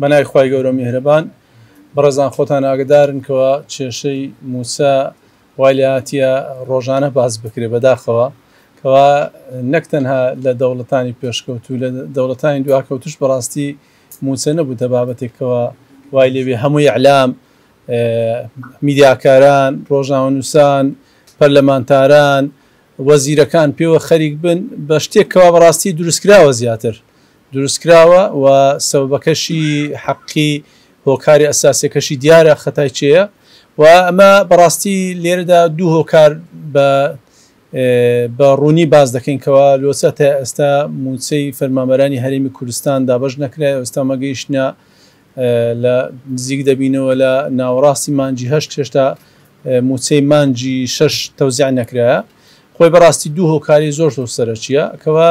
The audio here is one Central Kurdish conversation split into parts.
بەناوی خوای گەورە میهرەبان. بەڕێزان خۆتان ئاگەدارن کەوا کێشەی موسا وای لێهاتیە ڕۆژانە باس بکرێ بەداخەوە کەوا نەک تەنها لە دەوڵەتانی پێشکەوتوو لە دەوڵەتانی دواکەوتوش بەڕاستی موسە نەبووتە بابەتێک کەوا وای لێبێ هەموو ئیعلام میدیاکاران ڕۆژنامەنووسان پەرلەمانتاران وەزیرەکان پێوە خەریک بن بە شتێک کەوا بەڕاستی دروستکراوە زیاتر دروستکراوە و سەبەبەکەشی حەقی هۆکاری ئەساسیەکەشی دیارە خەتای کێیە و ئەمە بەڕاستی لێرەدا دوو هۆکار بە بە ڕوونی باس دەکەین کەوا لۆچە تا ئێستا موچەی فەرمانبەرانی هەرێمی کوردستان دابەش نەکرای ئێستا مەگەیشتە لە نزیک دەبینەوە لە ناوەڕاستی مانجی هەشت هێشتا موچەی مانجی شەش تەوزیع نەکرایە خۆی بەڕاستی دوو هۆکاری زۆر زۆر سەرەکیە کەوا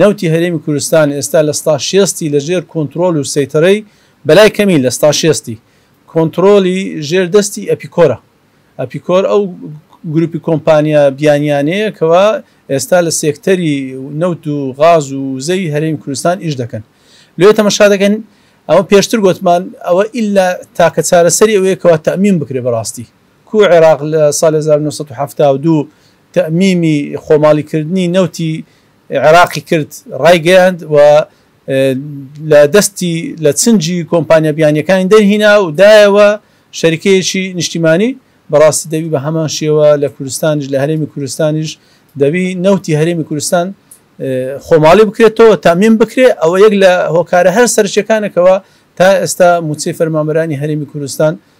نەوتی هەرێمی کوردستان ئێستا لە ستا شێستی لە ژێر کۆنترۆل و سەیتەرەی بەلای کەمی لە ستا شێستی کۆنترۆلی ژێر دەستی ئەپیکۆرە. ئەپیکۆر ئەو گروپی کۆمپانیا بیانیانەیە کەوا ئێستا لە سێکتەری نەوت و غاز و وزەی هەرێمی کوردستان ئیش دەکەن. لۆیە تەمەشا دەکەن ئەوە پێشتر گۆتمان ئەوە ئیلا تاکە چارەسەری ئەوەیە کەوا تەئمین بکرێ بەراستی. کو عێراق لە ساڵی هەزار و نۆ سەد و حەفتا و دوو تەئمیمی خۆماڵیکردنی نەوتی عێراقی کرد، ڕایگەیاند و لە دەستی لە چنگی کۆمپانیا بیانییەکانی دەرهینا و دایەوە شەریکەیەکی نیشتیمانی، بەڕاستی دەبی بە هەمان شێوە لە کوردستانیش، لە هەرێمی کوردستانیش دەبی نەوتی هەرێمی کوردستان خۆماڵی بکرێتەوە، تەئمیم بکرێ، ئەوە یەک لە هۆکارە هەرە سەرەکییەکانە کەوا تا ئێستا مووچەی فەرمانبەرانی هەرێمی کوردستان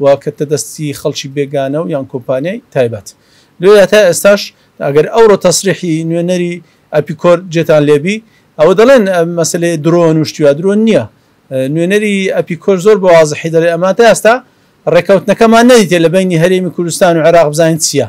و کەتتە دەستی خەڵکی بێگانە و یان کۆمپانیای تایبەت لێرەدا تا ئێستاش ئەگەر ئەوڕۆ تەسریحی نوێنەری ئەپیکۆر جێتان لێبی ئەوە دەڵێن مەسەلەی درۆن و شتی وا درۆن نییە نوێنەری ئەپیکۆر زۆر بە وازحی دەڵێ ئەمان تا ئێستا ڕێکەوتنەکەمان نەدیتێ لە بەینی هەرێمی کوردستان و عێراق بزانین چییە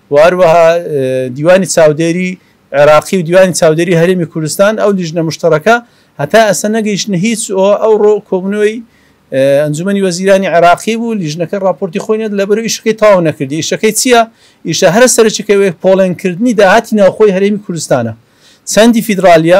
و هەروەها دیوانی چاودێری عێراقی و دیوانی چاودێری هەرێمی کوردستان ئەو لیژنە مشتەڕەکە هەتا ئەسە نەگەیشتنە هیچ ئەو ڕۆ کۆبنەوەی ئەنجومی وەزیرانی عراقی بوو لیژنەکە راپۆرتی خۆینێت لە بەرو ئیشەکەی تاو نەکردی ئیشەکەی چییە ئیشە هەرە سەرچەکەوێت پۆڵێن کردنی داهاتی ناوخۆی هەرێمی کوردستانە چەندی فیدراالیە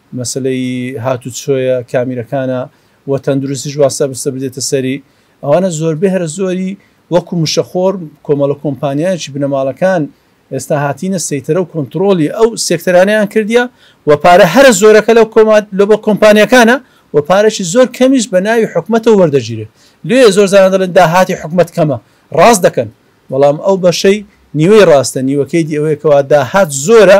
مەسەلەی هاتوچۆیە، کامیرەکانە و تەندروستیش وا سەبستە بدێتە سەری، ئەوانە زۆربەی هەرە زۆری وەکو مشەخۆر کۆمەڵە کۆمپانیایەکی بنەماڵەکان ئێستا هاتینە سەیتەرە و کۆنتڕۆڵی ئەو سێکتەرانەیان کردیە و پارە هەرە زۆرەکە لەو لەبەر کۆمپانیاکانە و پارەکی زۆر کەمیش بە ناوی حکومەتەوە وەردەگیرێ لێ زۆر جاران دەڵێن داهاتی حکومەت کەمە ڕاست دەکەن بەڵام ئەو بەشەی نیوەی ڕاستە نیوەکەی دی ئەوەیە کەوا داهات زۆرە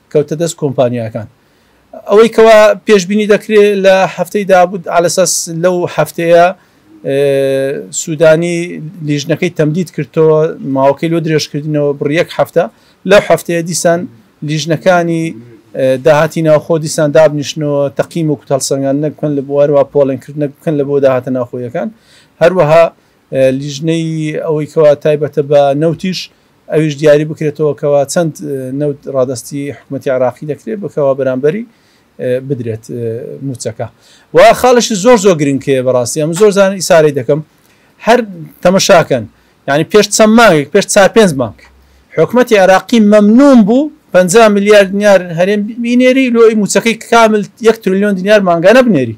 کەوتە دەست کۆمپانیاکان. ئەوەی کەوا پێشبینی دەکرێ لە هەفتەی دابوو عەلەساس لەو هەفتەیە سوودانی لیژنەکەی تەمدید کردەوە ماوەکەی لۆ درێژکردنەوە بڕی یەک هەفتە لەو هەفتەیە دیسان لیژنەکانی داهاتی ناوخۆ دیسان دابنیشتنەوە تەقیم و کوتەڵسەنگاندنە بکەن لە بوارەوە پۆڵێنکردنە بکەن لە بۆ داهاتە ناوخۆیەکان هەروەها لیژنەی ئەوەی کەوا تایبەتە بە نەوتیش ئەویش دیاری بکرێتەوە کەوا چەند نەوت ڕادەستی حکومەتی عێراقی دەکرێت بکەوا بەرامبەری بدرێت موچەکە و خاڵشی زۆر زۆر گرنگکەیە بەڕاستی ئەم زۆر زان ئیسارەی دەکەم هەر تەمەشاکەن یعنی پێش چەند مانگێک پێش چا پێنج مانگ حکومەتی عراقی مەمنون بوو 50 میلیارد دینار هەرێم بینێری لۆی موچەکەی کامل یەک تریلیۆن دینار مانگانە بنێری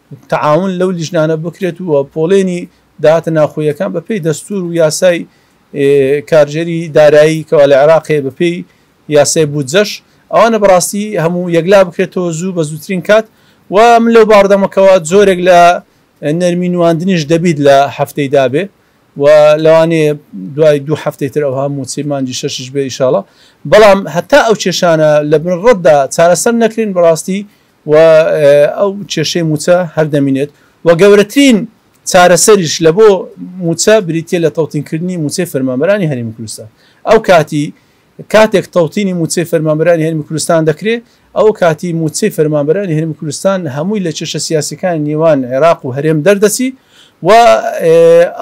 تەعاون لەو لیژنانە بکرێت و پۆڵێنی داهاتە ناوخۆییەکان بەپێی دەستوور و یاسای کارگێری دارایی کەوا لە عێراق هەیە بەپێی یاسای بودجەش ئەوانە بەڕاستی هەموو یەکلا بکرێتەوە زوو بە زووترین کات و من لەو باڕدەمەکەوە زۆرێک لە نەرمی نواندنیش دەبیت لە هەفتەی دابێ و لەوانێ دوای دوو هەفتەی تر ئەوها موچەی مانجی شەشش بێ ئیشاڵە بەڵام هەتا ئەو کێشانە لە بن ڕەتدا چارەسەر نەکرین بەڕاستی و ئەو کێشەی مووچە هەر دەمینێت و گەورەترین چارەسەریش لە بۆ مووچە بریتە لە تەوتینکردنی مووچەی فەرمانبەرانی هەرێمی کوردستان ئەو کاتی کاتێک تەوتینی مووچەی فەرمانبەرانی هەرمی کوردستان دەکرێت ئەو کاتی مووچەی فەرمانبەرانی هەرمی کوردستان هەمووی لە کێشە سیاسەکانی نێوان عێراق و هەرێم دەردەچی و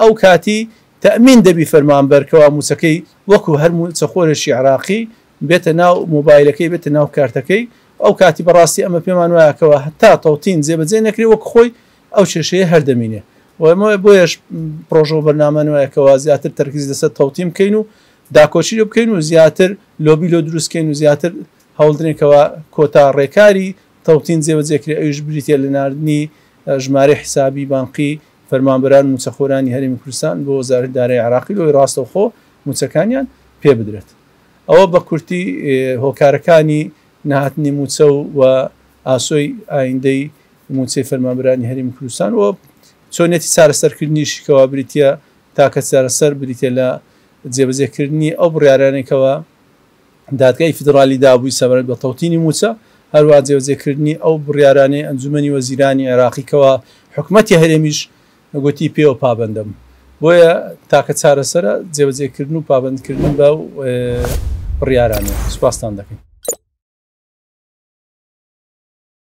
ئەو کاتی تەمین دەبی فەرمانبەرکەوە مووچەکەی وەکو هەرموو چەخۆرێکی عراقی بێتە ناو مۆبایلەکەی بێتە ناو کارتەکەی ئەو کاتی بەڕاستی ئەمە پێمان وایە کەوا هەتا تەوتین جێبەجێ نەکرێ وەک خۆی ئەو کێشەیە هەر دەمینێ و ئەمە بۆیەش پڕۆژە و بەرنامەمان وایە کەوا زیاتر تەرکیز لەسەر تەوتین بکەین و داکۆکی لێ بکەین و زیاتر لۆبی لۆ دروست کەین و زیاتر هەوڵ درێن کەوا کۆتا ڕێکاری تەوتین جێبەجێ کرێ ئەویش بریتییە لە ناردنی ژمارەی حیسابی بانقی فەرمانبەران و مووچەخۆرانی هەرێمی کوردستان بۆ وەزارەتی دارایی عێراقی لەوەی ڕاستەوخۆ مووچەکانیان پێ بدرێت. ئەوە بە کورتی هۆکارەکانی نەهاتنی مووچە و و ئاسۆی ئایندەی مووچەی فەرمانبەرانی هەرێمی کوردستان و چۆنیەتی چارەسەرکردنیشی کەوا بریتیە تاکە چارەسەر بریتیە لە جێبەجێکردنی ئەو بڕیارانەی کەوا دادگای فیدڕالی دابووی سەبارەت بە تەوتینی مووچە هەروەها جێبەجێکردنی ئەو بڕیارانەی ئەنجومەنی وەزیرانی عێراقی کەوا حکومەتی هەرێمیش گوتی پێوە پابەندم بۆیە تاکە چارەسەرە جێبەجێکردن و پابەندکردن بەو بڕیارانە. سوپاستان دەکەین.